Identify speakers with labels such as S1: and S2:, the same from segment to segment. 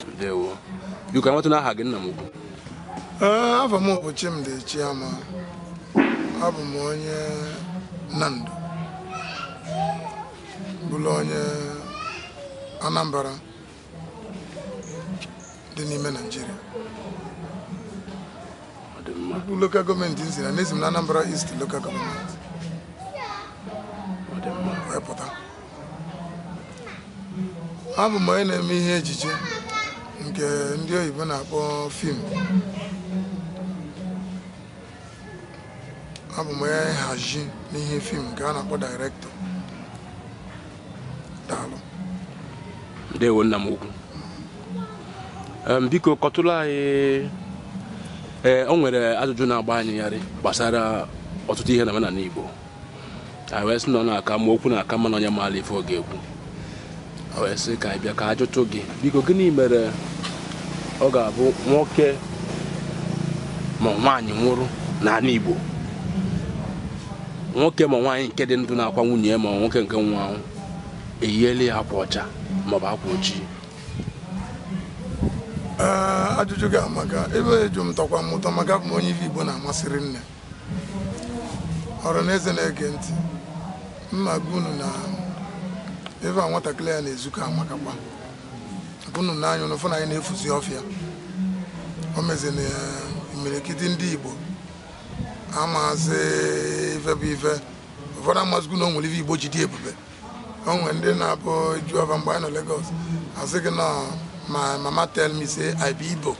S1: ndewo biko ka a matụ aha gị nna m ukwu
S2: ee afa m bụ Chimdi Chiama abụ m onye Nando bụrụ onye Anambra dị n'ime Naịjirịa ọ dị mma bụ local government m si na esi m na Anambra East local government ọ dị mma wee pụta abụ m onye na-eme ihe ejije nke ndị oyibo na-akpọ film abụ m onye nhazi n'ihe film nke a na-akpọ director
S1: daalụ ndewo nna m ukwu Em, biko kọtụrụ anyị ee o nwere ajụjụ na-agba anyị yarị gbasara ọtụtụ ihe na omenala Igbo wee sị na ọ na-aka mma okwu na-aka mma na onye maara ife ọ ga-ekwu wee sị ka anyị bịa ka a jụtụ gị biko gịnị mere ọ ga-abụ nwoke ma nwaanyị nwụrụ n'ala Igbo nwoke ma nwaanyị nke dị ndụ na-akwa nwunye ya ma nwoke nke nwụrụ anwụ eyiela ya akwa ọcha maọbụ akwa
S2: ojii ajụjụ gị amaka ebe eju m tọkwa m ụtọ maka bụ onye ife Igbo na-amasị rinne ọra na eze na-ege ntị mma gwa unu na ebe a nwatakịrị ya na-ezukọ amakakwa unu n'anya unu fụ na anyị na-efuzi ọfịa o mezi na imirikiti ndị igbo amazi ife bụ ife ụfọdụ amazikwu na o nwere ife igbo ji dị ebube o nwere ndị na-abụ a jụọ fa mgbe anyị nọ Lagos a sị gị na my mama tell me say I be igbo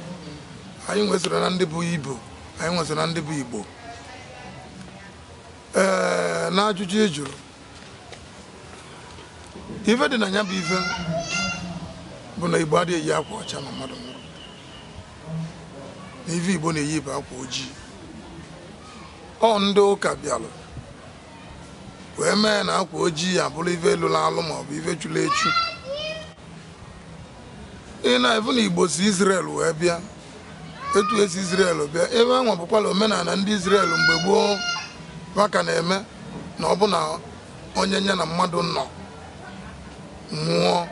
S2: anyị nwesoro na ndị bụ igbo anyị nwesị na ndị bụ Igbo ee n'ajụjụ ị jụrụ ife dị na ya bụ ife bụ na Igbo adịghị eyi akwa ọcha na mmadụ nwụrụ na ife Igbo na-eyi bụ akwa ojii ọ ndị ụka bịalụ wee mee na akwa ojii abụrụ ife lụlụ alụ maọbụ ife churu echu ị na-afụ na Igbo si Izrel wee bịa etu esi Izrel bịa ife anwa bụkwala omenala ndị Izrel mgbe gboo fa ka na-eme na ọ bụ na onye nye na mmadụ nọ nwụọ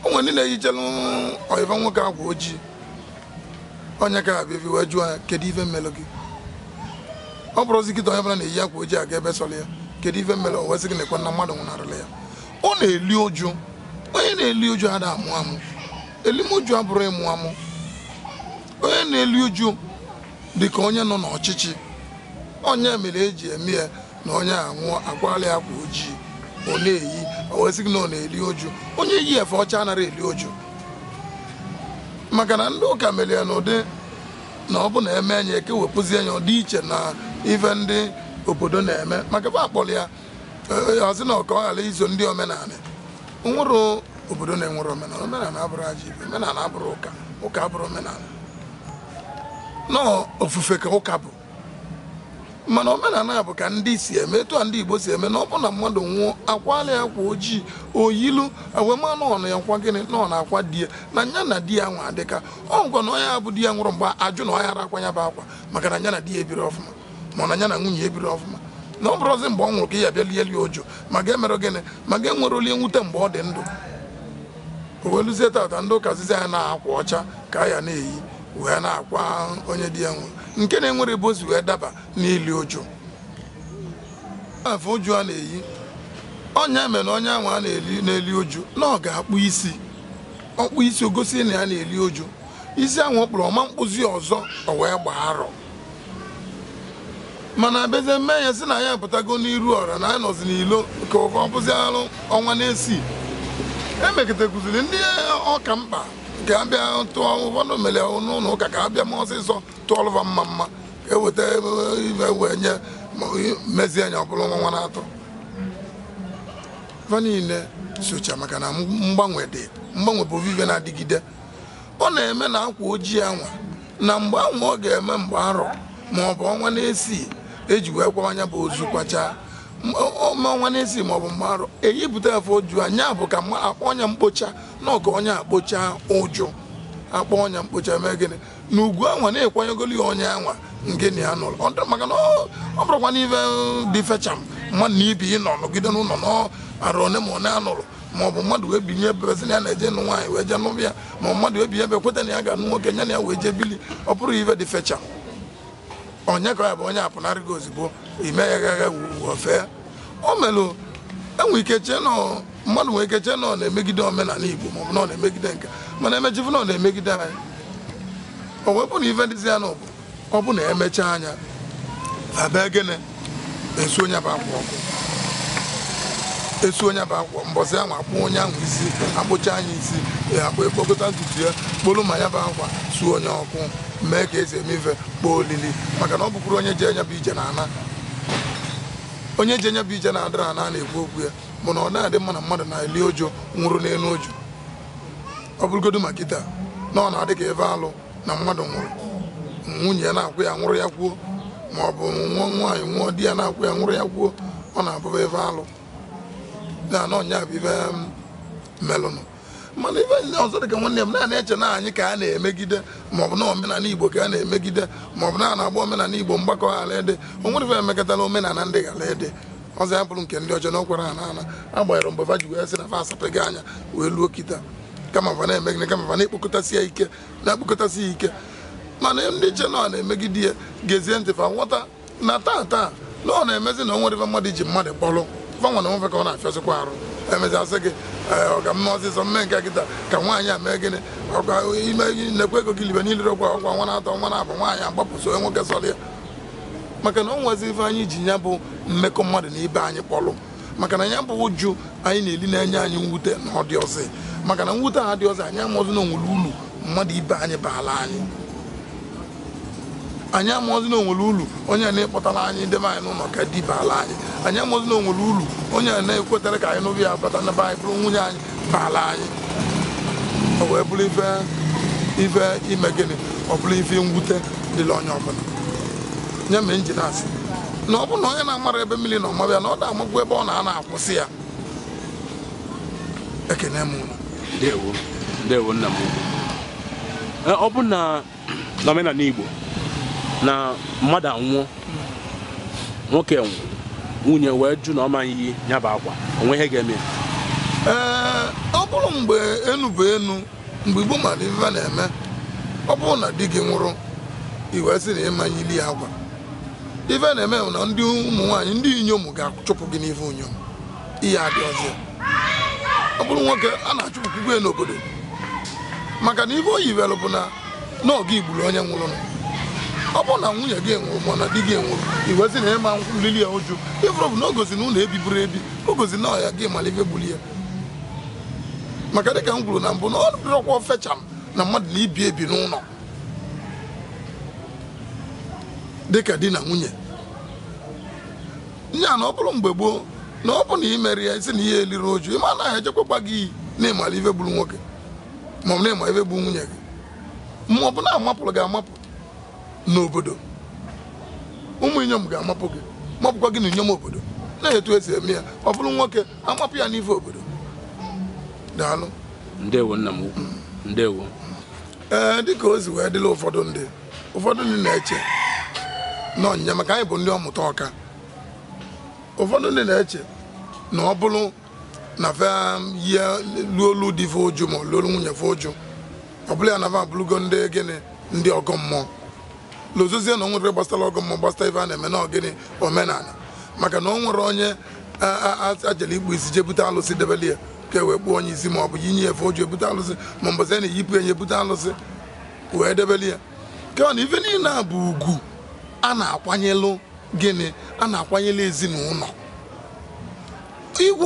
S2: o nwe ndị na-eyichelu onwe fa nwoke akwa ojii onye ka abịa ebi wee jụọ ya kedu ife melụ gị ọ bụrụzi kịta onye bụla na-eyi akwa ojii aga ebe sọrọ ya kedu ife melụ o wee sị gị nekwa na mmadụ nwụnarịla ya ọ na-eli uju onye na-eli uju ada amụ amụ elim uju abụrụ ịmụ amụ onye na-eli uju dị ka onye nọ n'ọchịchị ọ nya mere eji eme ya na onye anwụọ akwala ya akwa ojii ọ na-eyi o wee sị gị na ọ na-eli uju onye yi efe ọcha anaghị eli uju maka na ndị ụka mere ya n'ụdị na ọ bụ na eme nya ekewepụzie nya ọ dị iche na ife ndị obodo na-eme maka ebe a kpọrọ ya ọ sị na ọ ka ọ ghara iso ndị omenala o nwere obodo na-enwere omenala omenala abụrụ ajọ ive omenala abụrụ ụka ụka abụrụ omenala na ọ ofufe ka ụka bụ mana omenala bụ ka ndị si eme etu a ndị igbo si eme na ọ bụ na mmadụ nwụọ akwala ya akwa ojii o yilu e wee ma na ọ na-emekwa gịnị na ọ na-akwa di ya na nya na di ya nwa adịka ọ ngwa na onye ahụ di ya nwụrụ mgbe ajụ na ọ yara akwa ya bụ akwa maka na nya na di ya ebiri ọfụma ma ọ nya na nwunye ebiri ọfụma na ọ bụrụzi mgbe ọ nwụrụ ka ya bịa lie lie uju ma ga-emere gịnị ma ga-enwere oli nwute mgbe ọ dị ndụ o wee luzie tata ndị ụka sịzi anyị na akwa ọcha ka a ya na-eyi wee na-akwa onye di ya nwụrụ nke na-enwere ebe o si wee daba n'ili uju efe uju a na-eyi ọ nya mere na onye ahụ na-eli na-eli uju na ọ ga-akpụ isi ọ kpụọ isi o gosi na ya na-eli uju isi ahụ ọ kpụrụ ọ ma akpụzi ọzọ o wee gbaa arọ mana a bịazie mee ya sị na anyị apụtago n'iru ọra na anyị nọzi n'ilo ka ọ bụziarụ ọnwa n'isii emekọtakụziri ndị ọ ka mkpa ka a bịa tụọ ụfọdụ mere n'ụlọ ụka ka a bịa ma ọsịsọ tụọlụ va mmamma ka e weta ive wee nye mezie nya ọ bụlụ ọnwa n'atọ fa niile socha maka na mgbanwe dị mgbanwe bụ ive na-adịgide ọ na-eme na akwa ojii anwa na mgbe anwa ọ ga-eme mgbe arọ ma ọ bụ ọnwa n'isii eji wee kwaa nya bụ ozu kwachaa ọnwa n'isii ma ọ bụ mgbe arọ eyipụta efe uju a nya bụ ka a kpọọ nya mkpocha na ọ ka onye a kpochaa uju a kpọọ nya mkpocha mee gịnị na ugwu anwa na a kwanyegolu ya onye anwa nke nya nụrụ maka na ọ bụrụkwanụ ife dị fecha mmadụ na ibi ịnọ nọgide n'ụlọ n'arọ one ma one a nụrụ ma ọ bụ mmadụ wee binye ebe sị na ya na-eje nụ nwaanyị wee jee nụbịa ma ọ mmadụ wee binye ebe kweta na ya ga-anụ nwoke nya na ya wee jee bili ọ bụrụ ive dị fecha onye ka ya bụ onye apụnarị gị ozugbo ime ya gaga wufee o melụ enwe ike chee na mmadụ nwere ike chee na ọ na-emegide omenala igbo ma ọ bụ na ọ na-emegide nke mana emechifu na ọ na-emegide anyị o wepụ na ive dịzi ya n'obi ọ bụ na emechaa nya abịa gịnị esuo nya bụ akwa ọkụ esuo nya bụ akwa mbọsị ahụ akpụọ onye ahụ isi akpụchaa nya isi ya akpụ ekpokọta ntutu ya kpolu ma ya bụ akwa suo nya ọkụ mee ka esi eme ife kpọọ olili maka na ọ bụkwuru onye ji nya bụ ije na ana onye ji nya bụ ije na-adịrị ana na-ekwu okwu ya bụ na ọ na-adị mma na mmadụ na-eli uju nwụrụ n'enu uju ọ bụrụgodu ma kịta na ọ na-adị ka ife alụ na mmadụ nwụrụ nwunye ya na-akwa ya nwụrụ ya kwuo ma ọ bụ nwa nwaanyị nwụọ di ya na-akwa ya nwụrụ ya kwuo ọ na-abụba ife alụ na ọ nya bụ ife melụnụ mana ife ndị ọzọ dịka nwanne m nwaanyị eche na anyị ka a na-emegide maọbụ na omenala igbo ka a na-emegide maọbụ na a na-agba omenala igbo mgba ka ọ ghara ịdị o nwere ife emekọtala omenala ndị ghara ịdị ọzọ ya bụrụ nke ndị ọjọọ na ọkwara ha n'ala agbanyeghị mgbe fa ji wee sị na fa asapeghị anya wee luo kịta kama fa na-eme gịnị kama fa na-ekpokọtasị ya ike na-ekpokọtasị ya ike mana ndị na-eche na ọ na-emegide ya gezie ntị fa aghọta na taa taa na ọ na-emezi na o nwere ife mmadụ ji mmadụ kpọrọ fa nwa na onwe fa ka ọ na-afịasịkwa arụ emezi asị gị "Ee, ọga mee ọsịsọ mee nke kịta ka nwaanyị a mee gịnị ọkwa ime gị nekwa ego gị libe niile ọkwa ọkwa ọnwa n'atọ ọnwa naabọ nwaanyị agbapụ soo onye nwoke sọrọ ya maka na o nwezi ife anyị ji ya bụ mmekọ mmadụ na ibe anyị kpọrọ maka na ya bụ uju anyị na-eli na-enye anyị mwute na ọ dịrọzi maka na mwute a adịrọzi anyị amarọzi na o nwere ulu mmadụ ibe anyị baala anyị anyị amarọzi na o nwere ulu onye a na-akpọtara anyị debe anyị n'ụlọ ka di baala anyị anyị amarọzi na o nwere ulu onye a na-ekwetara ka anyị n'obi ya bata na be anyị bụrụ nwunye anyị baala anyị o wee bụrụ ife ife ime gịnị ọ bụrụ ife mwute dịlị onye ọbụla nya mere m ji na-asị na ọ bụrụ na onye na-amarọ ebe mmiri nọ maba ya na ọ da-amakwu ebe ọ na-anọ akwụsị ya ekene m unu ndewo
S1: ndewo nna m ukwu Eh, ọ bụ na n'omenala igbo na mmadụ anwụọ nwoke nwụ nwunye wee jụ na ọ maghị iyi ya bụ akwa o nwe ihe ga-eme ya ee
S2: ọ bụrụ mgbe enu bụ enu mgbe igbo mara ife a na-eme ọ bụrụ na di gị nwụrụ i wee sị na ị ma-eyili ya akwa ife a na-eme bụ na ndị ụmụ nwaanyị ndị inyom ga-achụpụ gị n'ife inyom ihe adị ọzọ ọ bụrụ nwoke a na-achụpụkwukwa ya n'obodo maka na ife o yiwere bụ na na ọ gị gburu onye nwụrụnụ. ọ bụrụ na nwunye gị nwụrụ ma na di gị nwụrụ i wee sị na ị ma-elili ya uju ifụrụ bụ na o gosi na unu ebiburo ebi o gosi na ọ gị mara ife gburu ya maka dịka m kwuru na mbụ na ọ dịrọkwa ofecha m na mmadụ na ibe ebi n'ụlọ dịka di na nwunye nya na ọ bụrụ mgbe gboo na ọ bụ na imeri ya isi na ị ya-eliri uju ịma na ya echekwakwa gị iyi na ị mara ife gburu nwoke ma ọ bụ na ị ma ife gburu nwunye gị ma ọ bụ na amapụrụ gị amapụ n'obodo ụmụ inyom ga-amapụ gị mapụkwa gị na inyom obodo na etu esi eme ya ọ bụrụ nwoke amapụ ya n'ife obodo daalụ
S1: ndewo nna m ukwu ndewo
S2: ee dịka o si wee dịla ụfọdụ ndị ụfọdụ ndị na-eche na ọnyịnya maka anyị bụ ndị ọmụta ọka ụfọdụ ndị na-eche na ọ bụrụ na fa yie luolu di fa uju ma luolu nwunye fa uju ọ bụla ya na fa abụrụgo ndị gịnị ndị ọgọ mmụọ lozozie na o nwere gbasara ọgọ mmụọ gbasara ife a na-eme na ọ gịnị omenala maka na o nwere onye a jele ịkpụ isi je bute alụsị debele ya ka e wee kpụọ onye isi ma ọ bụ yinye ya efe uju ebute alụsị ma mbọsị a na-eyipụ enye ebute alụsị wee debele ya ka na ife niile a bụ ugwu a na-akwanyelụ gịnị a na-akwanyelụ ezinụlọ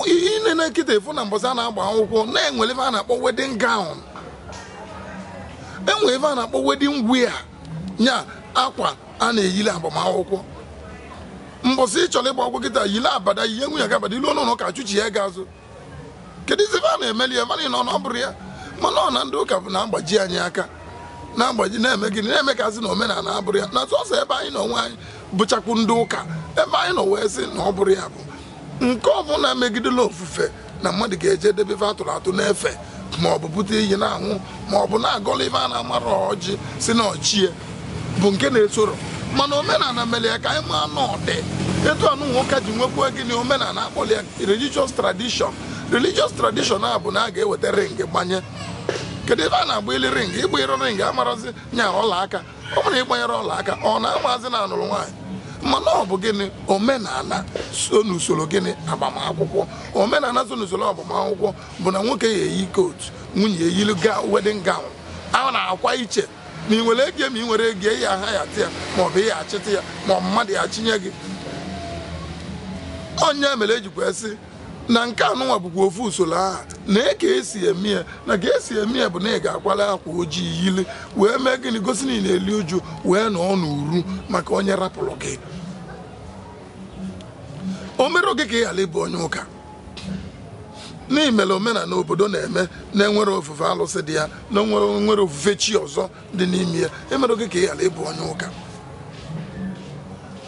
S2: ihe ine na kịta ị fụ na mbọsị a na-agba akwụkwọ na-enwere ife a na-akpọ wedding gown enwere ife a na-akpọ wedding wear nya akwa a na-eyili agbamakwụkwọ mbọsị ị chọrọ ịgba akwụkwọ kịta yile abada yie nwunye gị abada i luo n'ụnọ ụka achụchie gị azụ kedụzi ife a na-emeli ya mana ị nọ na ọ bụrụ ya mana ọ na ndị ụka bụ na-agbaji anyị aka na-agbaji na-eme gịnị na-eme ka a sị na omenala abụrọ ya na sọsọ ebe anyị na onwe anyị bụchakwu ndị ụka ebe anyị nọ wee sị na ọ bụrụ ya bụ nke ọbụla megidela ofufe na mmadụ ga-eje debe ife atụrụ atụ na-efe ma ọ bụ bute iyi na-anwụ ma ọ bụ na-agọla ife a na-amara ọjị sị na ọ chi ya bụ nke na-esoro mana omenala mere ya ka anyị maa na ọ dị etu anụnwa ka e ji nwekwuo gịnị omenala akpọrọ ya religious tradition religious tradition a bụ na a ga-eweta ring gbanye kedu ife a na-agbali ring ịgba ring amarazi nya ọla aka ọ bụrụ na ị gbanyere ọla aka ọ na-amazi na anụrụ nwaanyị mana ọ bụ gịnị omenala so n'usoro gịnị agbamakwụkwọ omenala so n'usoro agbamakwụkwọ bụ na nwoke ya eyi coat nwunye eyiri wedding gown a na-akwa iche ma ị nwere ego ma ị nwerọ ego ị ya-ahayata ya maọbụ ị ya-achịta ya ma ọ mmadụ ya chinye gị onye mere ejikwa sị na nke anụnwa bụkwa ofu usoro ahụ na e ka esi eme ya na ka esi eme ya bụ na ị ga-akwala akwa ojii yili wee mee gịnị gosi na ị na-eli uju wee nọọ n'uru maka onye rapụrụ gị o merọ gị ka ị ghara ịbụ onye ụka na i mere omenala obodo na-eme na-enwerọ ofufe alụsị dị ya na-enwerọ ofufe chi ọzọ dị n'ime ya emere gị ka ị ghara ịbụ onye ụka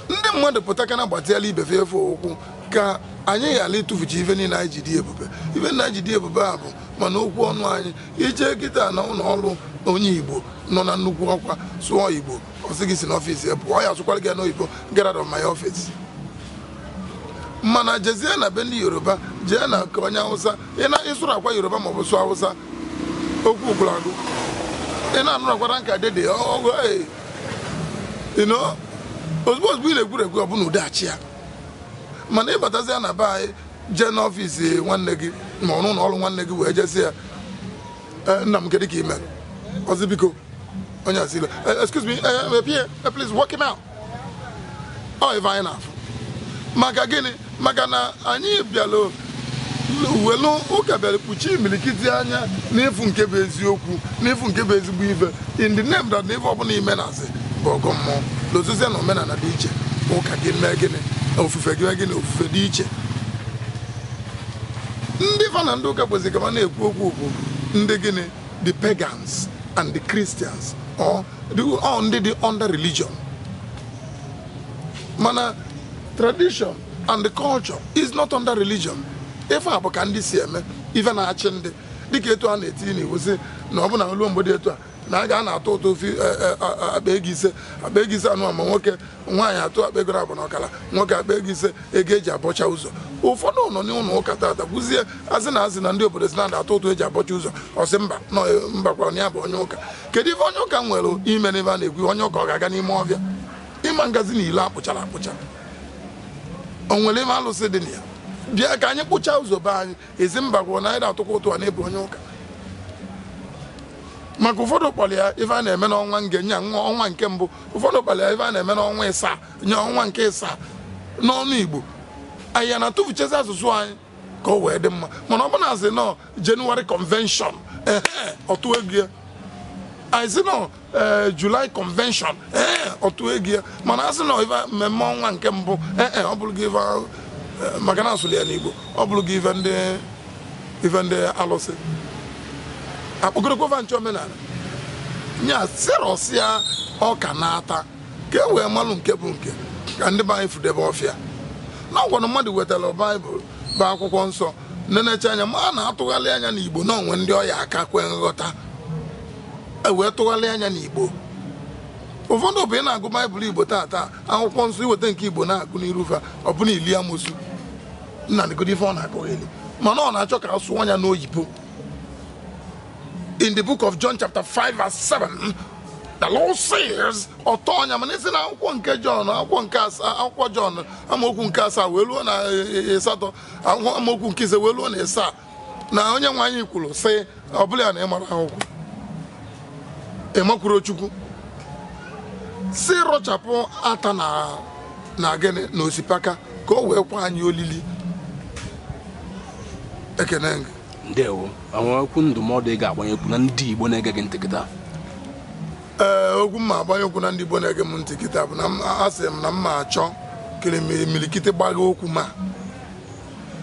S2: ndị mmadụ pụta ka na-agbatịala ibe fe efe ụkwụ ka anyị ghara ịtụfucha ife niile anyị ji dị ebube ife anyị ji dị ebube a bụ ma n'okwu ọnụ anyị i je kịta na ụlọ ọrụ onye igbo nọ na nnukwu ọkwa sụọ igbo ọ sị gị si n'ọfịs ya pụọ ya asụkwara gị n'oyibo get out of my office mana jezie na be ndị yoruba jee na nke onye hausa ị na-asụrụkwa yoruba maọbụ sụọ awụsa okwu gwụrụ agwụ ị na-anụrụkwa ranka dede ọgụ ee you know ozugbo ozugbo ị na-egwuru egwu ọbụna ụdaghachi ya mana ị batazia na be anyị jee n'ọfịs nwanne gị maọbụ na ọrụ nwanne gị wee je sị ya "Eh, nna m kedu ka ị mere ọ sị biko onye asịla excuse me eh, eh, PA, eh, please walk him out ọ ife anyị na-afụ maka gịnị maka na anyị bịara welu ụka bịara kpuchie imirikiti anya n'ịfụ nke bụ eziokwu n'ịfụ nke bụ ezigbo ife in the name that na ife ọbụla i me na-asị bụ ọgọ mmụọ lozozie na omenala dị iche ụka gị mee gịnị ofufe gị mee gịnị ofufe dị iche ndị fa na ndị ụka kwesị ka ma na-ekwu okwu bụ ndị gịnị the pagans and the Christians or the all ndị dị under religion mana tradition and the culture is not under religion ife a bụ ka ndị si eme ife na-achị ndị dịka etu a na-etinye n'iwu sị na ọ bụ na o lu mgbe dị etu a na a ga na-atụ ụtụ of akpa ego ise akpa ego ise anụ ma nwoke nwaanyị atụọ akpa ego abụọ na ọkara nwoke akpa ego ise ego eji abọcha ụzọ ụfọdụ nọ n'ụlọ ụka tata kwuzie asị na asị na ndị obodo sị na atụ ụtụ eji abọcha ụzọ ọ sị mba no e, mba kwa na ya bụ onye ụka kedu ife onye ụka nwere ime n'ife a na-ekwu onye ụka ọ ga-aga n'ime ọfịa ị ma gazi na ilo akpụchara akpụcha o nwere ime alụsị dị na ya bịa ka anyị kpụchaa ụzọ be anyị Ị sị mba kwuru na anyị na-atụkwa ụtụ a n'ịbụ onye ụka maka ụfọdụ kpọrọ ya ife a na-eme n'ọnwa nge nya ọnwa nke mbụ ụfọdụ kpọrọ ya ife a na-eme n'ọnwa ịsaa nya ọnwa nke ịsaa n'ọnụ Igbo anyị ana-atụfuchazi asụsụ anyị ka o wee dị mma mana ọ bụ na asị na January convention ehe ọ tụọ ego ya anyị sị na ee eh, July convention ee eh, ọ tụọ ego ya mana asị na ife mmemme ọnwa nke mbụ ee eh, ọ bụrụ gị ife maka na asụlụ ya n'Igbo ọ bụrụ gị ife ndị ife ndị alụsị akpọgorokwa nche omenala nya sirọsịa ọka na-ata ka e wee malụ nke bụ nke ka ndị be anyị fudebe ọfịa na ọ kwanụ mmadụ wetara baịbụl bụ akwụkwọ nsọ nenecha anya ma a na-atụgharị ya n'Igbo na o nwe ndị ọ ya-aka kwe nghọta e wee tụgharịa nya n'igbo ụfọdụ bụ ị na-agụ baịbụl igbo taata akwụkwọ nsọ i weta nke igbo na-agụ n'iru fa ọbụna ili amosu nna ndịgodo ife ọ na-akọgheli mana ọ na-achọ ka a sụọ nya n'oyibo in the book of John chapter 5 verse 7 the Lord says ọ tọọ nya mana ị sị na akwụkwọ nke John akwụkwọ nke asaa akwụkwọ John amaokwu nke asaa wee ruo na e, e, asatọ amaokwu nke ise wee ruo na asaa na onye nwe anyị kwuru sị ọ bụla ya na ịmara akwụkwọ ịmakwuru chukwu si rọchapụ ata na na gịnị na osipaka ka o wee kwe anyị olili ekene gị ndewo e
S1: nwere okwu ndụmọdụ ị ga-agbanyekwu na ndị igbo na-ege gị ntị
S2: kịta ee okwu m ma-agbanyekwu na ndị igbo na-ege m ntị kịta bụ na m- asị m na m ma achọ ka imilikiti gbagha okwu m a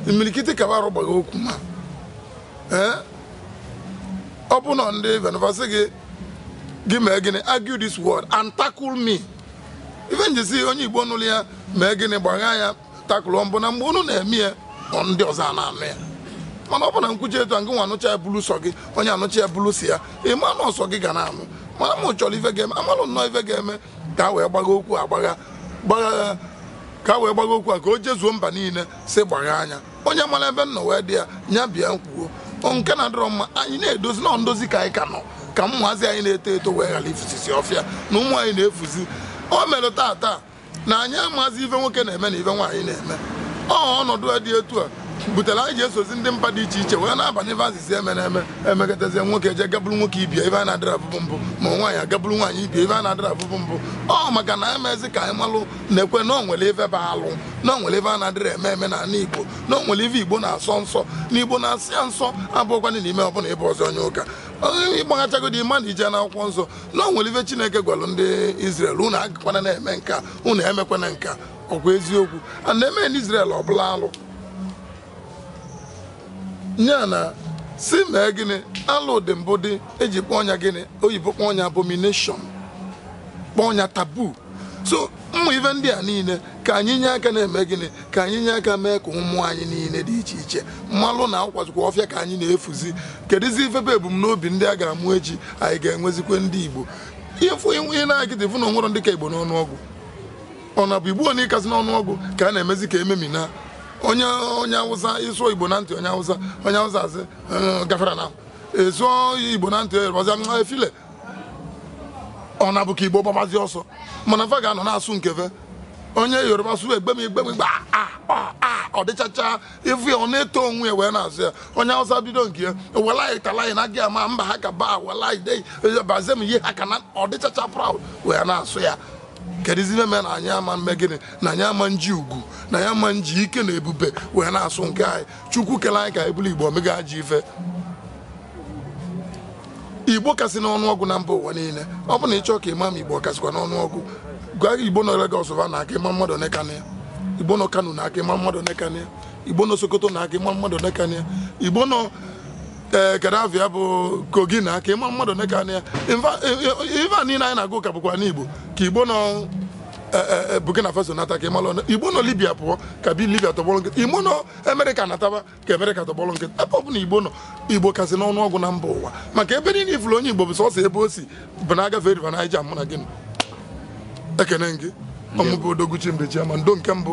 S2: imirikiti ka ba arụ gbagha okwu m a ee ọ bụ na ndị venvasị gị gị mee gịnị argue this word and tackle me ife m ji sị onye igbo nụrụ ya mee gịnị gbagha ya tackle m bụ na mgbe unu na-eme ya ọ ndị ọzọ a na-anụ ya mana ọ bụ na m kwuchaa etu a ngị nwa anụcha ya bụlụ sọ gị onye a nụcha ya bụlụ sọ ya ị ma na ọ sọ gị ga na-anụ mana m chọrọ ife ga-eme a malụ nnọọ ife ga-eme ka a wee gbagha okwu a gbagha ka a wee gbagha okwu a ka o jezuo mba niile sị gbagha nya onye mara ebe m nọ wee dị ya nya bịa kwuo nke na-adịrọ mma anyị na-edozi na ndozi ka anyị ka nọ ka ụmụazị anyị na-eto eto wee ghara ifusisi ọfịa na ụmụ anyị na-efuzi o mere taata na anyị amazi ife nwoke na-eme na ife nwaanyị na-eme ọ ọnọdụ a dị etu a butere anyị ji esozi ndị mba dị iche iche wee na-aba n'ife adịzi eme na-eme emekọtazie nwoke eje ga buru nwoke ibe ya ife a na-adịrọ afụbu mbụ ma nwaanyị aga buru nwaanyị ibe ya ife a na-adịrọ afụbu mbụ ọ maka na emezi ka anyị malụ na-ekwe na o nwere ife bụ alụ na o nwere ife a na-adịrọ eme eme n'ala igbo na o nwere ife igbo na-asọ nsọ na igbo na-asị ya nsọ abakwana n'ime ọ bụlụ ị bụ ọzọ onye ụka ị gbaghachagodi ị ma na i je n'akwụkwọ nsọ na o nwere ife chineke gwara ndị Izrel unu agakwana na-eme nka unu emekwana nka ọ kwa eziokwu a na-eme n'Israel ọ bụlụ alụ ya na si mee gịnị alụ dị mbụ dị e ji kpọọ nya gịnị oyibo kpọọ nya abomination kpọọ nya taboo so ụmụ ife ndị a niile ka anyị nye aka na-eme gịnị ka anyị nye aka mee ka ụmụ anyị niile dị iche iche malụ na ọ kwazikwa ọfịa ka anyị na-efuzi kedụzi ife bụ ebumnobi ndị a ga-amụ echi anyị ga-enwezikwa ndị Igbo ịfụ ịnwe ihe na-agịdị fụ na o nwere ndị ka Igbo n'ọnụọgụ ọ na-abụ igbo na ịkasị n'ọnụọgụ ka a na-emezi ka e memina onye onye awụsa ị sụọ igbo na ntị onye awụsa onye awụsa asị gafara na ị sụọ igbo na ntị ọzọ efile ọ na-abụ ka igbo gbabazi ọsọ mana fa ga-anọ na-asụ nke ve onye yoruba sụ egbem egbem gba ọ dịchacha ị fụ ya ọ na-eto onwe ya wee na-asụ ya onye awụsa bido nke ya wallahi tallahi na gị ama ba haka ba wallahi dai ba zan yi haka na ọ dịchacha proud wee na-asụ ya kedụzi ife mere na anyị ama mme gịnị na anyị ama nji ugwu na anyị ama nji ike na ebube wee na-asụ nke anyị chukwu kele anyị ka anyị bụrụ igbo o meghị ajọ ife igbo kasị n'ọnụọgụ na mba ụwa niile ọ bụ na ị chọọ ka ị ma ma igbo kasịkwa n'ọnụọgụ gwa igbo nọ Lagos va naa ka ị ma mmadụ one ka nọ ya igbo nọ Kano naa ka ị ma mmadụ one ka nọ ya igbo nọ Sokoto naa ka ị ma mmadụ one ka nọ ya igbo nọ ee eh, kedụ afa ya bụ kogi naa ka ị ma mmadụ one ka nọ ya ife a niile anyị na-agụ ka bụkwa n'igbo ka igbo nọ eh, eh, burkina faso nata ka ị malụ na igbo nọ libia pụọ ka bi libia tọgbọrọ nkịtị igbo nọ amerịka nataba ka amerịka tọgbọrọ nkịtị ebe ọ bụla igbo nọ igbo kasị n'ọnụọgụ na mba ụwa maka ebe niile ị fụrụ onye igbo bụ sọsọ ebe o si bụ na a gafee riva naija mụ na gịnị ekene gị ọ mụ bụ odogwu chi mbechi ama ndo nke mbụ